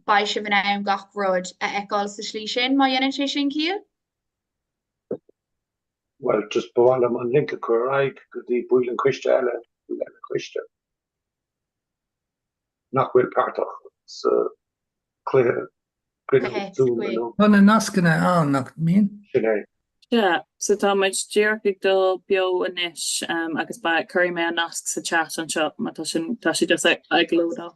Beidh sibh in ann gach rud a fheiceáil sa tslí sin má dhéanann sé sin, Cill? Bhuel, just ba mhaith liom an link a chur ar aghaidh go dtí baill an choiste eile, baill eile coiste nach bhfuil páirteach sa chluiche Zoom. Bíonn na nascanna ann, nach mbíonn? Sin é. Sea, so tá muid díreach ag dul beo anois, agus ba, cuirfidh mé an nasc sa chat anseo má tá sin, tá sí just ag, ag lódáil.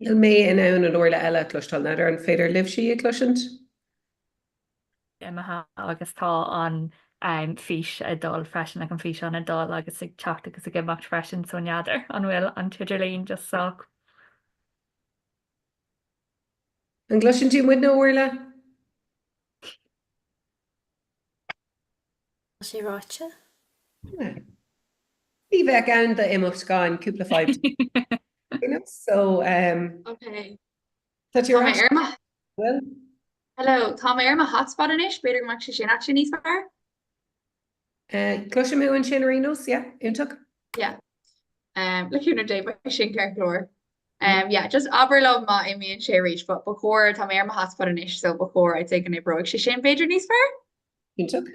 Níl mé in ann an Orla eile a chloisteáil, n'fheadar an féidir libhse í a chloisint? imithe agus tá an fís ag dul freisin agus an físeán ag dul agus ag teacht agus ag imeacht freisin so n'fheadar an bhfuil an t-idirlíon just sách An gcloiseann tú muidne, Orla? Tá sé ráite. Ní bheadh aon imeacht gan cúpla fadhb. you know, so um, okay. Tá tú ar ais? Well. Hello, Tá mé ar mo hotspot anois, b'fhéidir go mbeidh sé sin níos fearr? Cloisim thú ansin ar ndóigh, yeah, iontach. Yeah. Um, le cúnamh Dé beidh sin ceart go leor. Um, yeah, just abair liom má imíonn sé arís, but ba chóir tá mé ar mo hotspot anois, so ba chóir I'd say go n-oibreoidh sé sin b'fhéidir níos fearr. Iontach.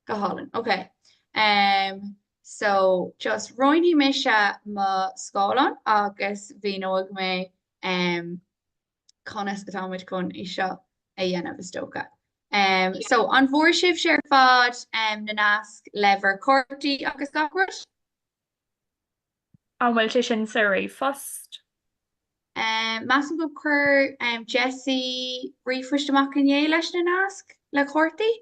Go hálainn, ok. Um, so, just roinnfidh mise mo scáileán agus míneoidh mé um, conas atá muid chun é seo a dhéanamh is dócha. Um, so an bhfuair sibhse ar fad um, na naisc le bhur gcártaí agus gach rud? An bhfuil sé sin sa ríomhphost? Um, Measaim gur chuir um, Jesse ríomhphost amach inné leis na naisc le cártaí?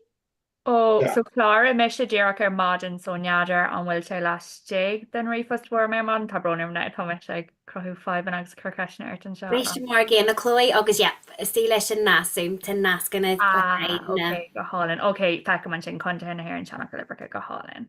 Ó, so chláraigh mise díreach ar maidin, so n'fheadar an bhfuil sé laistigh den ríomhphost a fuair mé ar maidin, tá brón orm, tá mise ag cruthú fadhbanna agus ag cur ceisteanna ort anseo. Bhí sé mar a gcéanna, a Chloe agus yep, is dóigh leis an nasc Zoom, tá nascanna le haghaidh na. Ah, ok, go hálainn, ok, feicim ansin, Contaetha na hÉireann, Seanfhocail, Uimhreacha, go hálainn.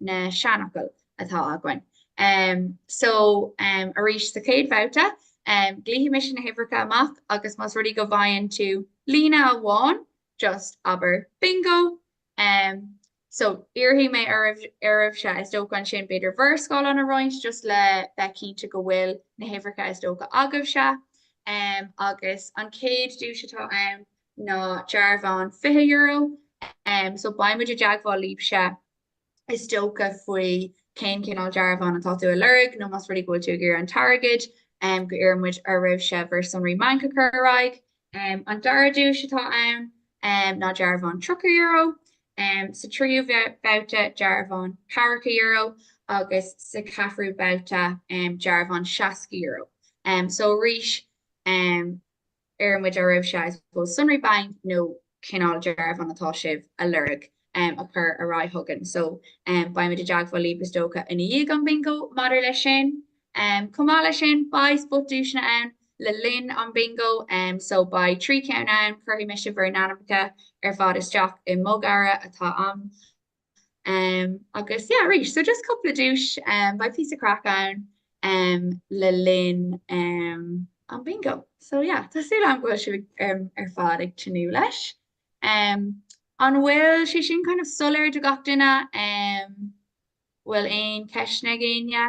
na seanfhocail atá againn. So arís sa chéad bhabhta, glaofaidh mise na huimhreacha amach agus más rud é go bhfaigheann tú líne amháin, just abair 'Bingo'. So iarrfaidh mé oraibhse, is dócha ansin b'fhéidir bhur scáileáin a roinnt just le bheith cinnte go bhfuil na huimhreacha is dócha agaibhse. Agus an chéad duais atá ann ná dearbhán €20, so beidh muid i dteagmháil libhse is dócha faoi cén cineál dearbhán atá tú a lorg nó más rud é go bhfuil tú ag iarraidh an t-airgead um, go n-iarrann muid oraibhse bhur sonraí bainc a chur ar aghaidh. Um, an dara duais atá ann um, ná dearbhán €30, um, sa tríú babhta dearbhán €40 agus sa ceathrú babhta um, dearbhán €60. Um, so arís, um, Iarrann muid oraibhse I suppose sonraí bainc nó cineál dearbhán atá sibh a lorg em a chur ar aghaidh chugainn so em beidh muid i dteagmháil libh is dócha i ndiaidh an bingo maidir leis sin. Em chomh maith leis sin beidh spotduaiseanna ann le linn an bingo em so beidh trí cheann ann cuirfidh mise bhur n-ainmneacha ar fad isteach i mbogearra atá ann Um, agus yeah, arís so just cúpla duais um, beidh píosa craic ann um, le linn um, an bingo. So yeah, tá súil agam go bhfuil sibh um, ar fad ag tnúth leis. Um, an bhfuil sé sin kind of soiléir do gach duine um, bhfuil aon ceisteanna ag éinne?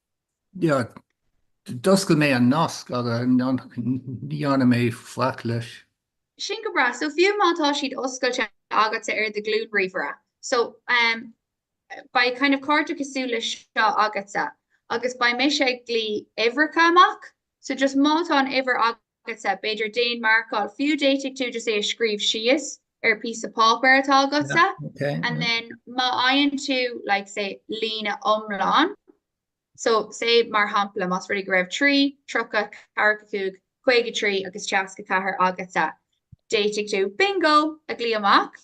D'oscail mé an nasc agus ní dhearna mé faic leis. Sin go breá. So fiú má tá siad oscailte agatsa ar do ghlúin ríomhaire, so em, beidh kind of cárta cosúil leis seo agatsa agus beidh mise ag glaoch uimhreacha amach. So just má tá an uimhir agat, agatsa, b'fhéidir déan marcáil fiú d'fhéadfadh tú just é a scríobh síos ar píosa páipéir atá agatsa and then má fhaigheann tú like say líne iomlán so say mar shampla más rud é go raibh 3, 30, 45, 53 agus 64 agatsa d'fhéadfadh tú bingo a ghlaoch amach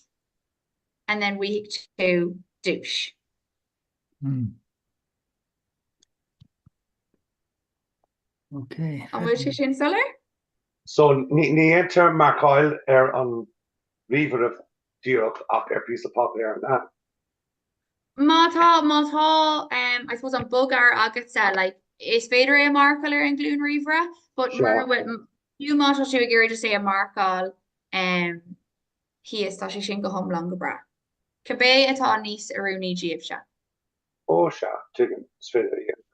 and then bhfaigheadh tú duais. An bhfuil sé sin soiléir? So ní dhéantar marcáil ar an ríomhaire díreach ach ar píosa páipéir, an ea? Má tá, má tá em I suppose an bogearra agatsa like is féidir é a marcáil ar an nglúin ríomhaire, but Sure. mura bhfuil fiú má tá tú ag iarraidh just é a marcáil em thíos tá sé sin go hiomlán go breá. Cibé atá níos oiriúnaí díobhse. Ó sea, tuigim, is féidir a dhéanamh.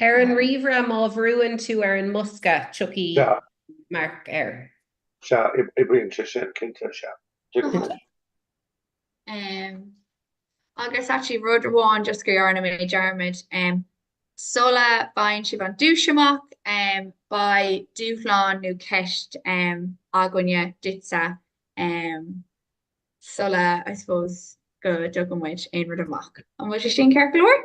Ar an ríomhaire, má bhrúann tú ar an mbosca, tiocfaidh marc air. Sea, oibríonn sé sin, cinnte, sea. Agus actually rud amháin just go dhearna mé dearmad, sula bhfaigheann sibh an duais amach, beidh dúshlán nó ceist againne duitse sula, I suppose, go dtugann muid aon rud amach. An bhfuil sé sin ceart go leor?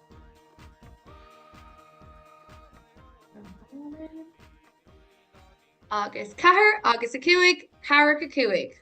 Agus ceathair agus a cúig ceathracha cúig.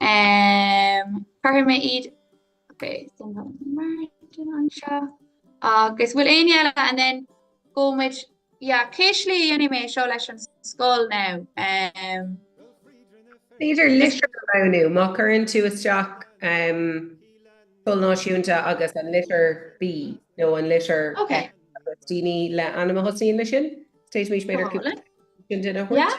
Em cuirfidh mé iad Ok sin tá Martin anseo agus bhfuil éinne eile and then gabhaimid yeah, cé slí a dhéanfaidh mé seo leis an scoil now. Um, b'fhéidir litir a roghnú má chuireann tú isteach um, Scoil Náisiúnta agus an litir B nó an litir okay. agus daoine le ainm a thosaíonn le sin. Téis mís b'fhéidir Colin? sin duine a thabhairt. Yeah.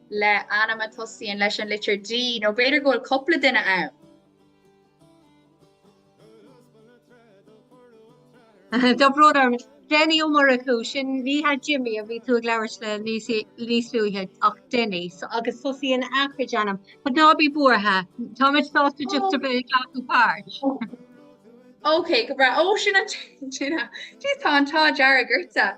le ainm a tosaíonn leis an litir D, nó b'fhéidir go bhfuil cúpla duine ann. Tá brother Denny Ó Murchú, sin bhí Jimmy a bhí tú ag labhairt le níos luaithe, ach Denny, agus tosaíonn a chuid ainm. But ná bí buartha, táimid sásta just ar bith ag glacadh páirt. OK, go breá. Ó, sin an duine. Jeez, tá an t-ádh dearg ortsa.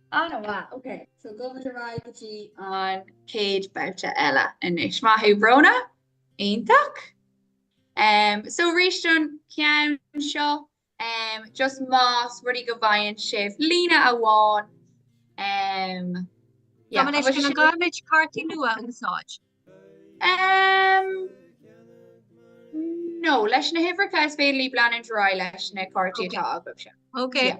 Ana mhaith, ok, so gabhaimid ar aghaidh go dtí an céad babhta eile anois. Maith thú Bróna, iontach. Um, so arís don ceann seo, um, just más rud é go bhfaigheann sibh líne amháin, um, yeah, Tá anois sin caithfimid cártaí nua a úsáid. Um, no, leis na huimhreacha is féidir libh leanúint ar aghaidh leis na cártaí atá agaibh seo. Ok. Yeah.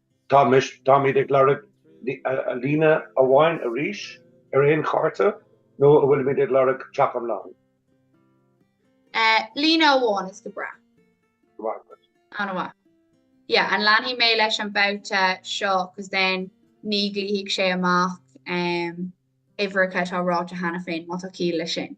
Táimid ag lorg líne amháin arís ar aon chárta nó an bhfuilimid ag lorg teach iomlán? Líne amháin is go breá. Go raibh maith agat. Ana mhaith. Yeah, an leanfaidh mé leis an babhta seo cos then ní ghlaofaidh sé amach uimhreacha atá ráite cheana féin má tá ciall leis sin.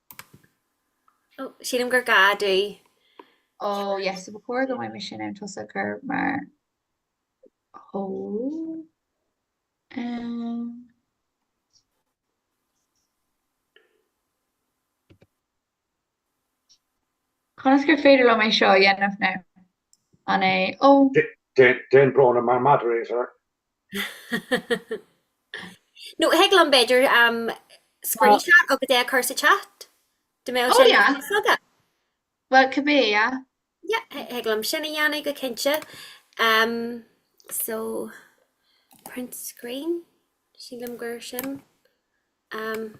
Sílim gur gá duit. Ó yes, so ba chóir go bhfuil mise in ann tusa a chur mar hó Conas gur féidir liom é seo a dhéanamh now? An é Ó. Déan Brónagh mar moderator. No, thig liom b'fhéidir screenshot agus é a chur sa chat? Dá mbeadh sé ar eolas agat? Bhuel, cibé, yeah. Yeah, thig liom sin a dhéanamh go cinnte. So, print screen, sílim gur sin. Um,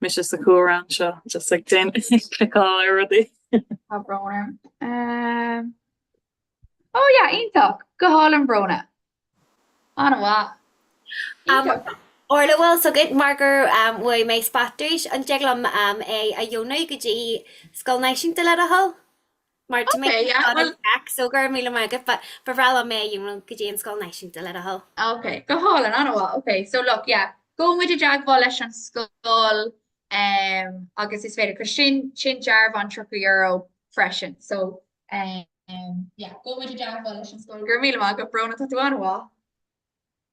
Mise ag cur araon seo just ag cliceáil ar rudaí. Tá brón orm. Ó ja, iontach! Go hálainn a Bhróna. An-mhaith. Orla, bhfuil a fhios agat, mar gur bhuaigh mé spot duit, an dtig liom é a dheonú go dtí scoil náisiúnta le do thoil? Mar to make it back, so go raibh míle maith agat, but ba bhreá liom mé é a dheonú go dtí an scoil náisiúnta le do thoil. Ok, go hálainn, an-mhaith, ok, so look, yeah, beidh muid i dteagmháil leis an scoil ehm agus is féidir, cos sin, sin dearbhán €30 freisin, so ehm yeah, beidh muid i dteagmháil leis an scoil, go raibh míle maith agat, a Bhróna, tá tú an-mhaith.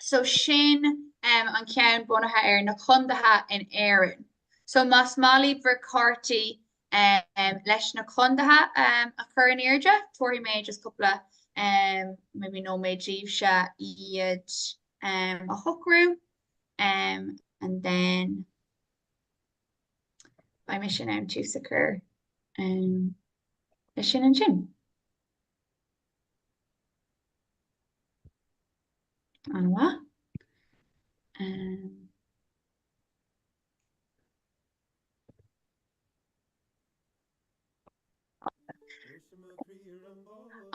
so sin um an ceann bunaithe ar na contaetha in Éirinn. So más maith libh bhur cártaí um leis na contaetha um a chur in airde, tabharfaidh mé just cúpla um maybe nóiméad daoibhse iad um a shocrú um and then beidh mise in ann tús a chur um leis sin ansin. An-mhaith. Um,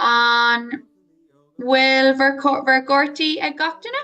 an bhfuil bhur gcártaí ag gach duine?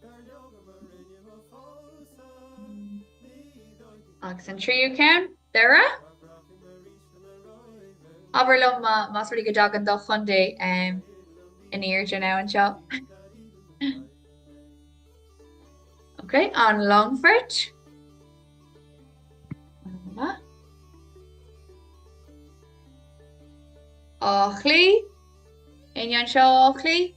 Dar leo go mba rinne mo chomharsan ní dóichí. Agus an tríú ceann, Doire? Ná braithim arís go mba róimhe mé. Abair liom más rud é go dtagann do chontae in airde ann seo. Ok, an Longfort? Áth Cliath? Éinne anseo ó Áth Cliath?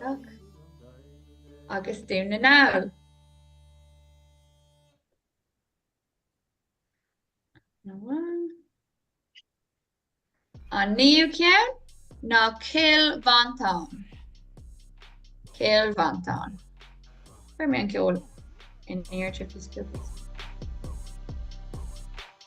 Duck agus Dún na nGall. An naoú ceann ná Cill Mhantáin. Cill Mhantáin. Bhuaigh mé an ceol in ear trippy stupid.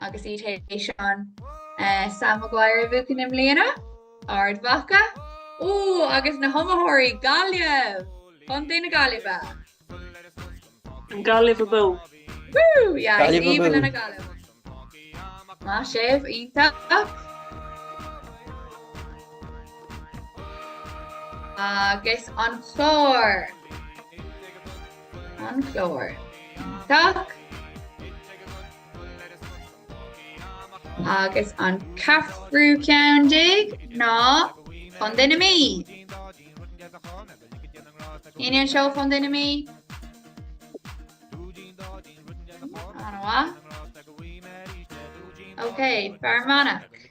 agus iad théis an eh, Sam Maguire a bhuachan i mbliana, Ard Mhacha, ó agus na hiomaitheoirí Gaillimh Contae na Gaillimhe. Gaillimh abú. Woo! Yeah, Gaillimh a Stephen i nGaillimh. Más ea iontach. Agus an Clár. An Clár. Tick agus an ceathrú ceann déag ná Contae na Mí. Sin é ansin Contae na Mí? An-mhaith. Ok, Fear Manach.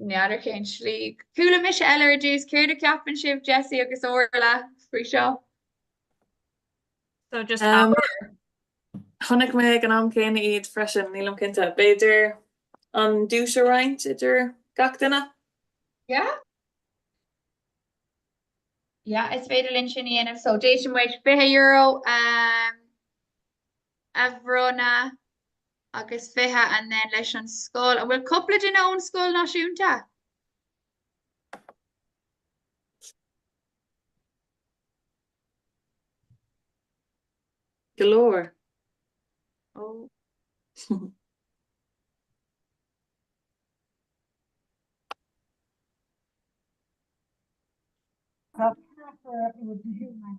N'fheadar cén slí. Chuala mise eile é ar dtús, céard a cheapann sibh, Jessie agus Orla, faoi seo? So just um, Chonaic mé ag an am céanna iad freisin, nílim cinnte. B'fhéidir an duais a roinnt idir gach duine? Yeah? Yeah, is féidir linn sin a dhéanamh, so d'fhéadfadh muid 20 euro um, a bhronnadh agus 20 and then leis an scoil. An bhfuil cúpla duine ón Scoil Náisiúnta? Go leor. Ó. Tá ceathrar ag iarraidh go hiomlán.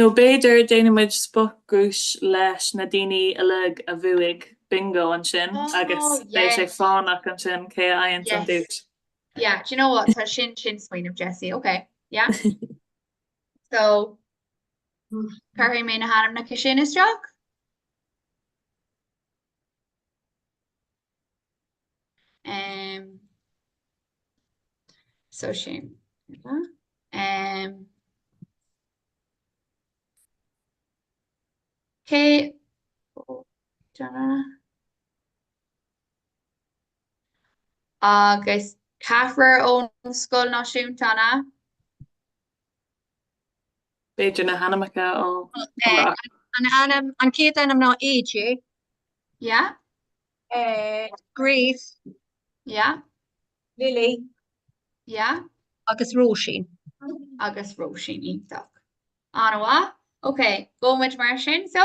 Nó b'fhéidir déanfaimid spotduais leis na daoine uilig a bhuaigh bingo ansin agus beidh sé fánach ansin cé a fhaigheanns an duais. Yeah, do you know what? Sea sin smaoineamh Jessie, okay. Yeah. so cuirfidh mé na hainmneacha sin isteach? Um, so sin. Um, OK agus ceathrar ón Scoil Náisiúnta ann. B'fhéidir na hainmneacha ó Ioracht. An ainm, an chéad ainm ná AJ. Yeah. Eh, Grace. Yeah. Lily. Yeah. Agus Róisín. Agus Róisín, iontach. An-mhaith. Ok, gabhfaidh muid mar sin, so.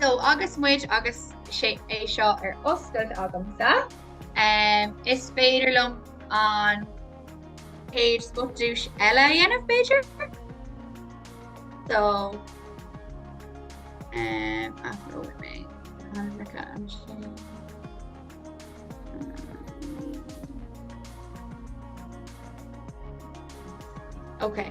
So agus muid agus é seo ar oscailt agamsa, um, is féidir liom an chéad spotduais eile a dhéanamh b'fhéidir. So um, athróidh mé. Okay.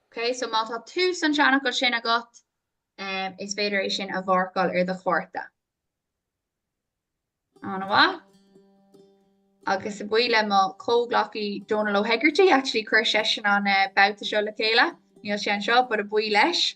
Ok so má tá tús an tseanfhocail sin agat um, is féidir é sin a mharcáil ar do chárta. An-mhaith. Agus a bhuí le mo chomhghleacaí Donal O'Hegarty actually chuir seisin an uh, eh, babhta seo le chéile, níl sé anseo, but a bhuí leis.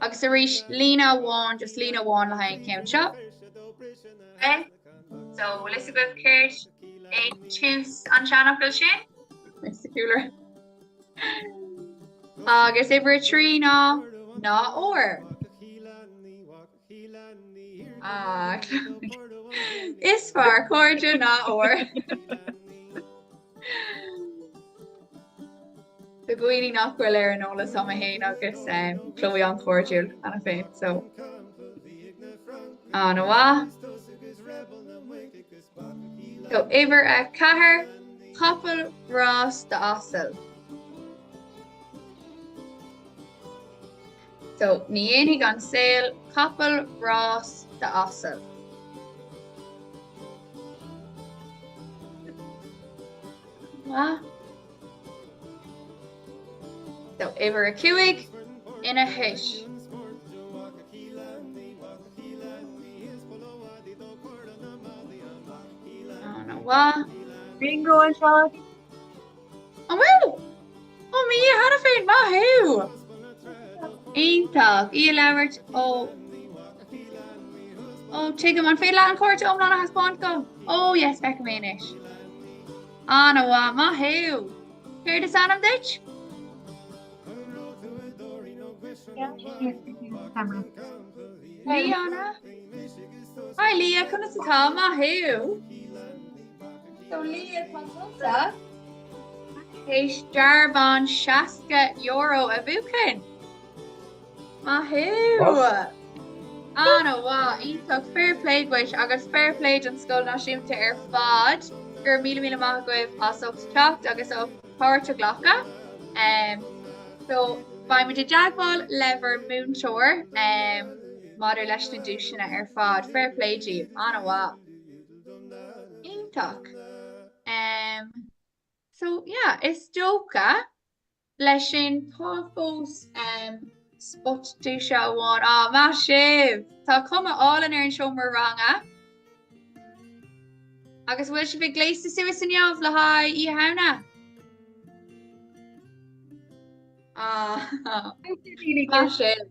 Agus arís, líne amháin, just líne amháin le haghaidh an ceann seo. Okay, so bhfuil a fhios agaibh céard é tús an tseanfhocail sin? Mr Cooler. Agus uimhir trí ná ná ór. Is fearr cairde ná ór. Tá daoine nach bhfuil ar an eolas agam féin agus Chloe an-chairdiúil muid féin so an-mhaith. So uimhir a ceathair capall rása d'asal. So ní dhéanfaidh an saol capall rása d'asal. Maith. So uimhir a cúig ina thois. An-mhaith. Bingo anseo. An bhfuil? Ó mi a cheana féin, maith thú! Iontach í a labhairt ó Ó tuigim, an féidir leat an cárta iomlán a thaispeáint dom? Ó yes, feicim é anois. An-mhaith, maith thú! Céard is ainm duit? Lia an ea? Hi Lia, conas atá? Maith thú! So Lia tá tusa tar éis dearbhán €60 a bhuachan. Maith thú! An-mhaith, iontach, fair play dhuit agus fair play don Scoil Náisiúnta ar fad. Go raibh míle míle maith agaibh as ucht teacht agus as páirt a ghlacadh. Um, so beimid i dteagmháil le bhur múinteoir um, maidir leis na duaiseanna ar fad. Fair play daoibh, an-mhaith. Iontach! Em so yeah is dócha leis sin tá fós em spotduais amháin á má sibh Tá cuma álainn ar an seomra ranga. Agus bhfuil sibh gléasta suas chomh maith le haghaidh Oíche Shamhna? Ah, ah. Má sibh.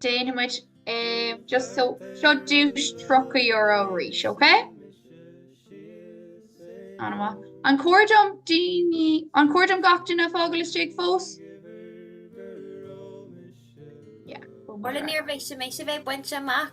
Déanfaimid é just so seo duais €30 arís, ok? An amach. An cóir do na daoine an cóir do gach duine fágail istigh fós? Orla níorbh é sé mé a bheith bainte amach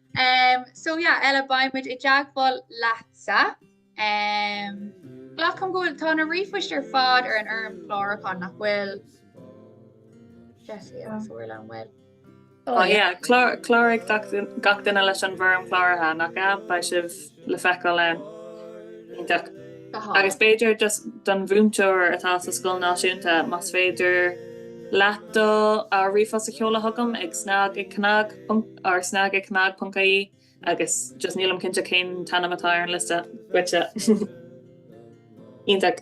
Em so yeah Ella beidh muid i dteagmháil leatsa. Em Glacaim go bhfuil tá na ríomhphoist ar fad ar an fhoirm chlárachán nach bhfuil Jessie an bhfuil. Oh yeah clár cláraigh gach duine leis an bhfoirm chláraithe nach ea? Beidh sibh le feiceáil ann. Iontach. Agus b'fhéidir just don mhúinteoir atá sa scoil náisiúnta, más féidir leat do ríomhphost a sheoladh chugam ag snag ag cnag ponc ie agus just nílim cinnte cén t-ainm atá ar an liosta duitse. Iontach.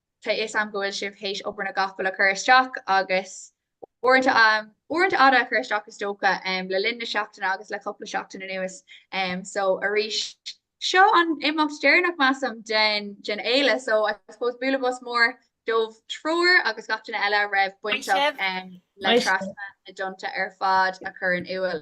Tá fhios a'm go bhfuil sibh théis obair na gcapall a chur isteach agus uaireanta uaireanta fhada a chur isteach is dócha um le linn na seachtaine agus le cupla seachtain anuas um so arís seo an imeacht deireanach measaim den den fhéile so I suppose bualadh bos mór dóibh triúr agus gach duine eile a raibh bainteach um le Trasna na dTonnta ar fad a chur in iúl.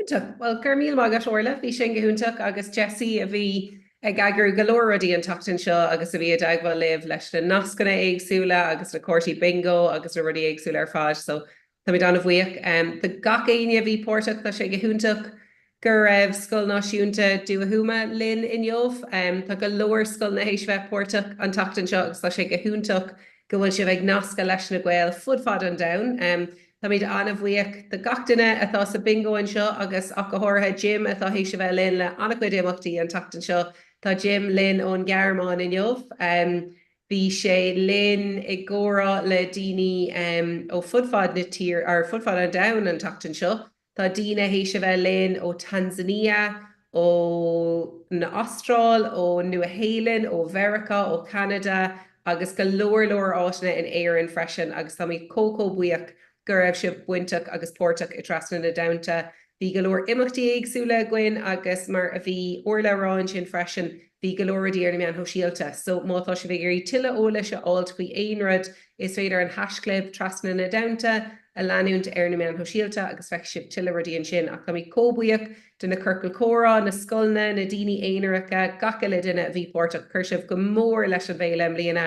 Iontach. Bhuel, go raibh míle maith agat, Orla. Bhí sin go hiontach agus Jessie a bhí ag eagrú go leor rudaí an tseachtain seo agus a bhí i dteagmháil libh leis na nascanna éagsúla agus na cártaí bingo agus na rudaí éagsúla ar fad. So, táimid an-bhuíoch de gach éinne a bhí páirteach. Tá sé go hiontach go raibh Scoil Náisiúnta Dhumha Thuama linn inniu. Tá go leor scoileanna théis bheith páirteach an tseachtain seo agus tá sé go hiontach go bhfuil sibh ag nascadh leis na Gaeil fud fad an domhain. Táimid an-bhuíoch de gach duine atá sa bhingo anseo agus ach go háirithe Jim atá théis a bheith linn le an-chuid imeachtaí an tseachtain seo. Tá Jim linn ón nGearmáin inniu. Bhí sé linn i gcomhrá le daoine ó fud fad na tír, or fud fad an domhain an tseachtain seo. Tá daoine théis a bheith linn ó Tanzania, ó an Astráil, ó Nua Shéalainn, ó Mheiriceá, ó Cheanada agus go leor leor áiteanna in Éirinn freisin agus táimid chomh chomh buíoch go raibh sibh bainteach agus páirteach i dTrasna na dTonnta. Bhí go leor imeachtaí éagsúla againn agus mar a bhí Orla a rá ansin freisin, Bhí go leor rudaí ar na meáin shóisialta so má tá sibh ag iarraidh tuilleadh eolais a fháilt faoi aon rud is féidir an haishchlib, Trasna na dTonnta, a leanúint ar na meáin shóisialta agus feicfidh sibh tuilleadh rudaí ansin. Ach táimid comh buíoch de na ciorcail comhrá, na scoileanna, na daoine aonaracha, gach uile duine a bhí páirteach. Chuir sibh go mór leis an bhféile i mbliana